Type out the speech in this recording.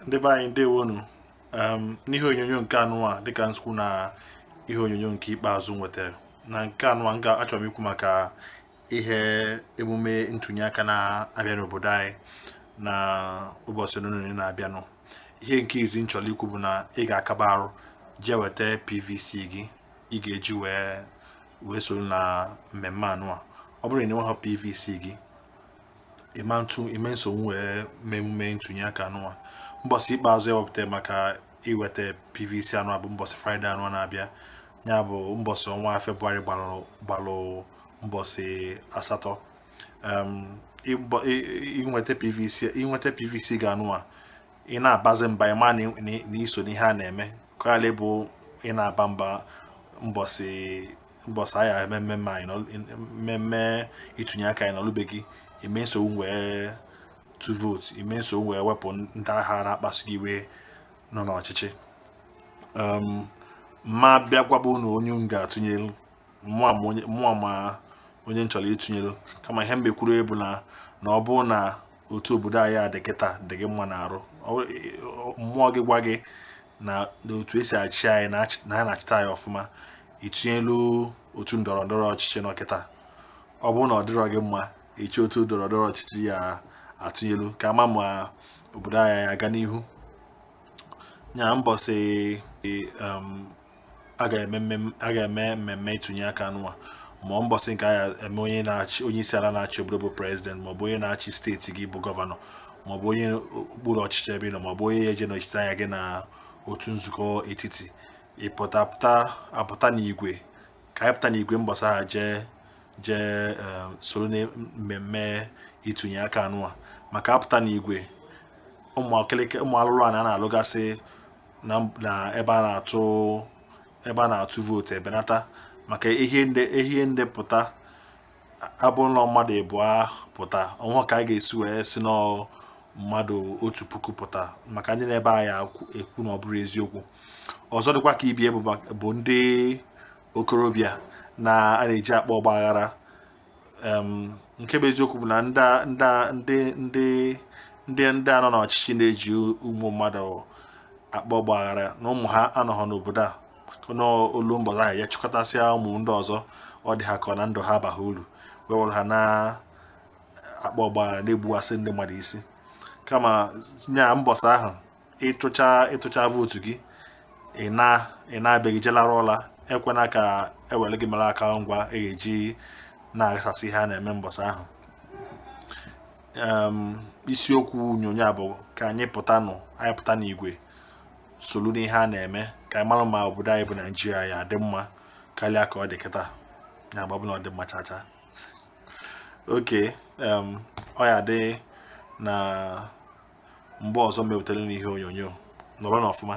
ndị be anyị ndewonụ um, n'ihe onyonyo nke anụwa dịka m si kwuo na ihe onyonyo nke ikpeazụ m wetara na nke anụwa m ga-achọ m ikwu maka ihe emume ntụnye aka na-abịa n'obodo anyị na ụbọchị ole na ole na-abịanụ ihe nke izizi m chọrọ ikwu bụ na ị ga-akaba arụ jee weta pvc gị ị ga-eji wee wee soro na mmemme anụwa ọ bụrụ na ị nweghị pvc gị ị ma-atụ ị ma-esonwu wee mee emume ntụnye aka anụwa mbọsị ikpeazụ e wepụta maka iweta pvc anụwa bụ mbọsị fraịde anụwa na-abịa ya bụ mbọsị ọnwa febụwarị gbalụ mbọsị asatọ ị weta pvc ị weta pvc gị anụwa ị na-abazi mba ị ma na i so n'ihe a na-eme karịa bụ ị na-aba mba mbọsị mbọsị a ya-eme mmemme ịtụnye aka ị nọlụ be gị ị ma-esonwu wee tụọ vootu ị ma-esonwu wee wepụ ndị ahụ na-akpasu gị iwe nọ n'ọchịchị m ma-abịa gwaba unu onye m ga-atụnyelu maọbụ onye m chọrọ ịtụnyelu kama ihe mbekwuru bụ na na ọ bụrụ na otu obodo anyị a dị kịta dị gị mma n'arụ mmụọ gị gwa gị na otu e si achị anyị na ha na-achịta anyị ọfụma ị tụnyelu otu ndọrọ ndọrọ ọchịchị nọ kịta ọ bụrụ na ọ dịrọ gị mma i chee otu ndọrọ ndọrọ ọchịchị ị ya-atụnyelu ka a ma ma obodo anyị aga n'ihu nya mbọsị um, a ga-eme mmemme ịtụnye aka anụwa ma ọ mbọsị nke a eme onye na-achị onye isi ala na-achị obodo bụ prezident maọbụ onye na-achị steeti gị bụ gọvanọ maọbụ onye okpuru ọchịchị ebe ị nọ maọbụ onye ya-eje nọchite anya gị na otu nzukọ etiti ịpụta apụta n'igwe ka anyị pụta n'igwe mbọsị ahụ jee jee ehm, soro na mmemme ịtụnye aka anụwa maka a pụta n'igwe ụmụ alụlụana a na-alụgasị na ebe a na-atụ ebe a na-atụ vootu ebenata maka ihe ndị ihe ndị pụta abụ na ọ mmadụ ịbụọ pụta o nweghị ka a ga-esi wee sị na ọ mmadụ otu puku pụta maka ndị nọ ebe a ya-ekwu na ọ bụrọ eziokwu ọzọ dịkwa ka ibie bụ ndị okorobịa na a na-eji akpa ọgba aghara nke bụ eziokwu bụ na ndị ndị ndị ndị a nọ n'ọchịchị na-eji ụmụ mmadụ akpa ọgbaghara na ụmụ ha anọghọ n'obodo a na o lue mbọsị ahụ ya chịkọtasịa ụmụ ndị ọzọ ọ dị ha ka na ndụ ha abaghị uru wee were ha na-akpa ọgbaghara na-egbuwasị ndị mmadụ isi kama nya mbọsị ahụ ị tụcha vootu gị ị naa be gị je larụ ụla ekwena ka e were gị mere aka ngwa e ga-eji na-aghasasị ihe a na-eme mbọsị ahụ isiokwu onyonyo a bụ ka anyị pụta n'igwe solu n'ihe a na-eme ka anyị mara ma obodo anyị bụ naijiria ya-adị mma karịa ka ọ dị kịta ya bụ na ọ dị mma chacha oke ọ ya-adị na mgbe ọzọ mepụtara ihe onyonyo nọrọnụ ọfụma